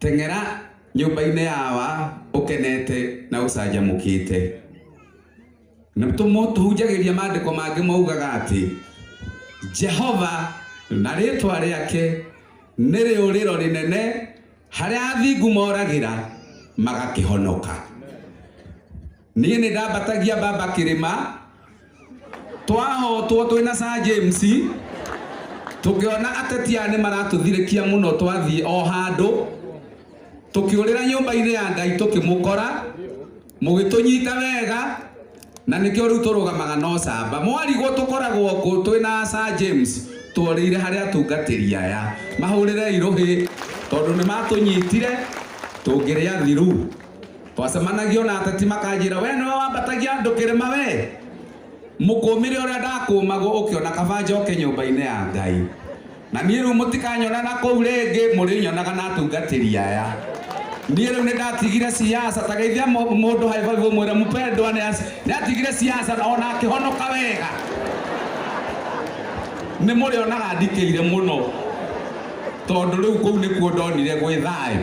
Teng'era nyũmba-inĩ ya wa ũkenete na ũcanjamũkĩte. Na tũmũ- tũhunjagĩria maandĩko mangĩ maugaga atĩ Jehova na rĩĩtwa rĩake nĩ rĩũrĩro rĩnene harĩa athingu moragĩra magakĩhonoka. Niĩ nĩ ndambatagia mbamba kĩrĩma, twahotwo twĩ na Sir James, tũkĩona ateti aya nĩ maratũthirĩkia mũno twathiĩ o handũ, tũkĩũrĩra nyũmba-inĩ ya Ngai tũkĩmũkora, mũgĩtũnyita wega, na nĩkĩo rĩu tũrũgamaga na ũcamba. Mwarigwo tũkoragwo kũ twĩ na Sir James, tworĩire harĩ atungatĩri aya. Mahũrĩrei rũhĩ tondũ nĩ matũnyitire tũngĩrĩa thiru. twacemanagia ona ateti makanjĩra we nĩwe wambatagia andũ kĩrĩma we mũkũmĩre ũrĩa ndakũmagwo ũkĩona kaba njoke nyũmba-inĩ ya ngai na niĩ rĩu mũtikanyona na kũu rĩngĩ mũrĩnyonaga na atungatĩri aya niĩ rĩu nĩ ndatigire siasa ta geithia mũ- mũndũ haibaibu mwĩre mpendwa nĩ as- nĩ atigire siasa na ona akĩhonoka wega nĩ mũrĩonaga ndikĩire mũno tondũ rĩu kũu nĩkuo ndonire gwĩ thayũ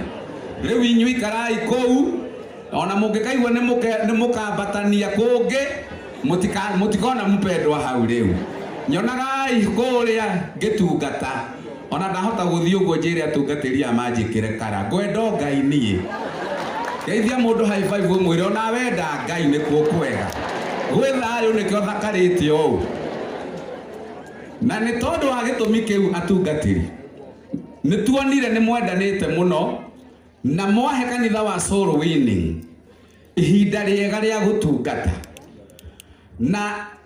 rĩu inyuĩ ikarai kũu ona mũngĩkaigua nĩ mũke- nĩ mũkambatania kũngĩ mũtika- mũtikona mpendwa hau rĩu nyonagai kũrĩa ngĩtungata ona ndahota gũthiĩ ũguo njĩre atungatĩri a manjĩkĩre kara ngwenda o ngai niĩ geithia mũndũ high five ũmwĩre ona wenda ngai nĩkuo kwega gwĩ thayũ nĩkĩo thakarĩte ũũ na nĩ tondũ wa gĩtũmi kĩu atungatĩri Nĩ tuonire nĩ mwendanĩte mũno na mwahe kanitha wa Soul Winning ihinda rĩega rĩa gũtungata, na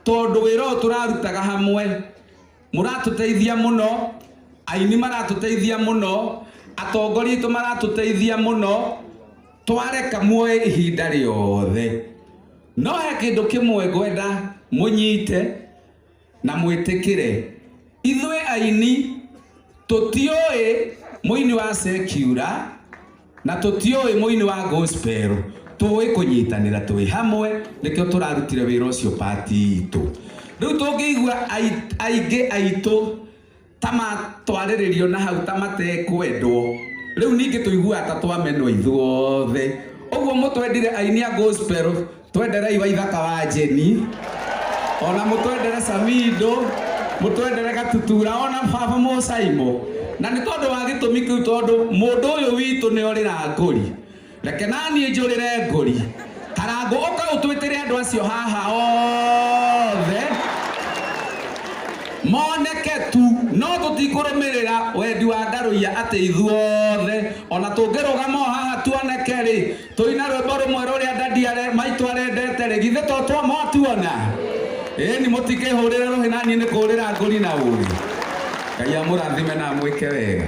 tondũ wĩra ũyũ tũrarutaga hamwe mũratũteithia mũno, aini maratũteithia mũno, atongoria aitũ maratũteithia mũno, twareka muoye ihinda rĩothe. No he kĩndũ kĩmwe ngwenda mũnyite, Na mwĩtĩkĩre, ithuĩ aini tũtiũĩ mũini wa sekiura na tũtiũĩ mũini wa gospel, tũĩ kũnyitanĩra twĩ hamwe, nĩkĩo tũrarutire wĩra ũcio part itũ. Rĩu tũngĩigua aingĩ aitũ ta matwarĩrĩrio na hau ta matekwendwo rĩu ningĩ tũiguaga ta twamenwo ithuothe ũguo mũtwendire aini a gospel twenderei wa ithaka wa jeni ona mũtwendere samindo mũtwendere gatutura ona baba mũcaimo na nĩ tondũ wa gĩtũmi kĩu tondũ mũndũ ũyũ witũ nĩ orĩra ngũri Reke naniĩ njũrĩre ngũri. Karangũ ũka ũtwĩtĩre andũ acio haha othe moneke tu no tũtikũrũmĩrĩra wendi wa Ndarũiya atĩ ithuothe ona tũngĩrũgama o haha tuoneke rĩ tũine rwĩmbo rũmwe rũrĩa Daddy are, maitũ arendete rĩ githĩ to twa mwatuona? Ĩni mũtikĩhũrĩre rũhĩ naniĩ nĩ kũrĩra ngũri na ũrĩ. Ngai amũrathime na amwĩke wega.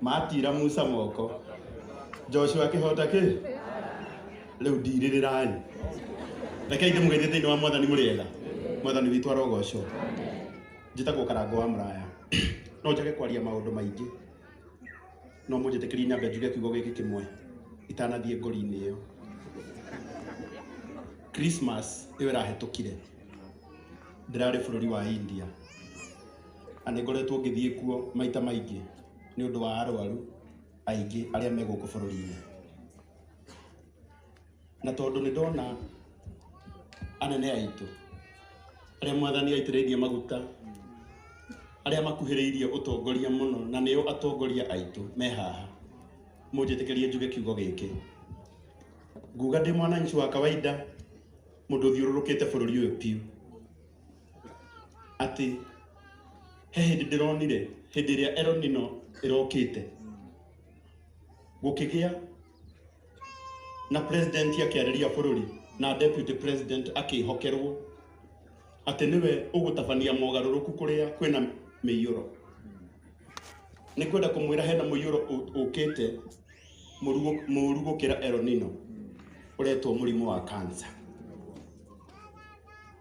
Maatiira Musa moko. Joshua akĩhoota kĩ? Rĩu ndirĩrĩrai. Rekei ndĩmũgeithie thĩinĩ wa Mwathani mũrĩega. Mwathani witũ arogoocwo. Njĩtagwo Karango wa Mũraya. No njage kwaria maũndũ maingĩ. No mũnjĩtĩkĩrie nyambe njuge kiugo gĩkĩ kĩmwe itanathiĩ ngori-inĩ ĩyo. Christmas ĩyo ĩrahĩtũkire ndĩrarĩ bũrũri wa India. na nĩ ngoretwo ngĩthiĩ kuo maita maingĩ nĩ ũndũ wa arwaru aingĩ arĩa me gũkũ bũrũri-inĩ. Na tondũ nĩ ndona anene aitũ arĩa mwathani aitĩrĩirie maguta, arĩa makuhĩrĩirie ũtongoria mũno na nĩo atongoria aitũ me haha, mũnjĩtĩkĩrie njuge kiugo gĩkĩ. Nguga ndĩ mwananchi wa kawaida, mũndũ ũthiũrũrũkĩte bũrũri ũyũ biũ. atĩ he hĩndĩ ndĩronire hĩndĩ ĩrĩa eronino ĩrokĩte gũkĩgĩa na president akĩarĩria bũrũri na deputy president akĩhokerwo atĩ nĩwe ũgũtabania mogarũrũku kũrĩa kwĩna mĩiyũro nĩ kwenda kũmwĩra hena mũiyũro ũ- ũkĩte mũru gũ- mũru gũkĩra eronino ũretwo mũrimũ wa cancer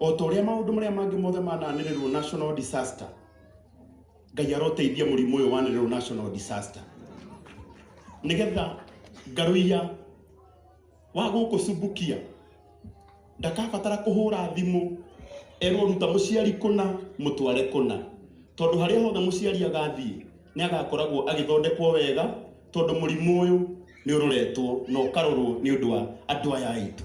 o ta ũrĩa maũndũ marĩa mangĩ mothe mananĩrĩrwo national disaster ngai aroteithia mũrimũ ũyũ wanĩrĩrwo national disaster nĩgetha ngarũia wa gũkũ cumbukia ndakabatara kũhũra thimũ erwo ruta mũciari kũna mũtware kũna tondũ harĩa hothe mũciari agathiĩ nĩ agakoragwo agĩthondekwo wega tondũ mũrimũ ũyũ nĩ ũroretwo na ũkarorwo nĩ ũndũ wa andũ aya aitũ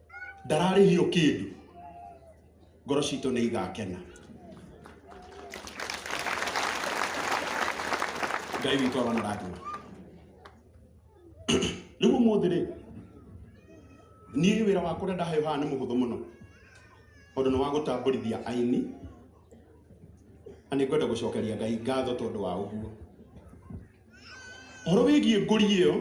ndararĩhio kĩndũ ngoro citũ nĩ igakena ngai witũ arona rathima rĩu ũmũthĩ rĩ niĩ wĩra wakwa ũrĩa ndaheo haha nĩ mũhũthũ mũno tondũ nĩ wa gũtambũrithia aini na nĩ ngwenda gũcokeria ngai ngatho tondũ wa ũguo Ũhoro wĩgiĩ ngũri ĩyo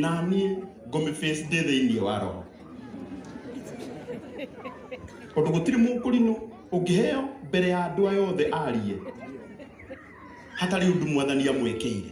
na niĩ ngũmĩ face ndĩ thĩinĩ wa roho tondũ gũtirĩ mũkũrinũ ũngĩheo mbere ya andũ aya othe arie hatarĩ ũndũ mwathani amwĩkĩire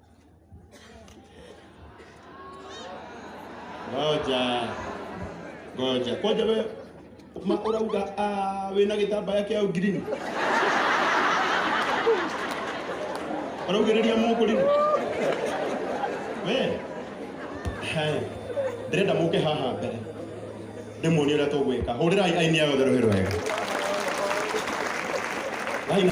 ngoja ngoja kwanja we ma urauga ah, wina gitambaya kia green araugiriria muku rino we Hai. ndĩrenda mũke haha mbere ndĩmuonie ũrĩa tũgwĩka hũrĩrai aini ayo therũ hĩrũ wega Aini-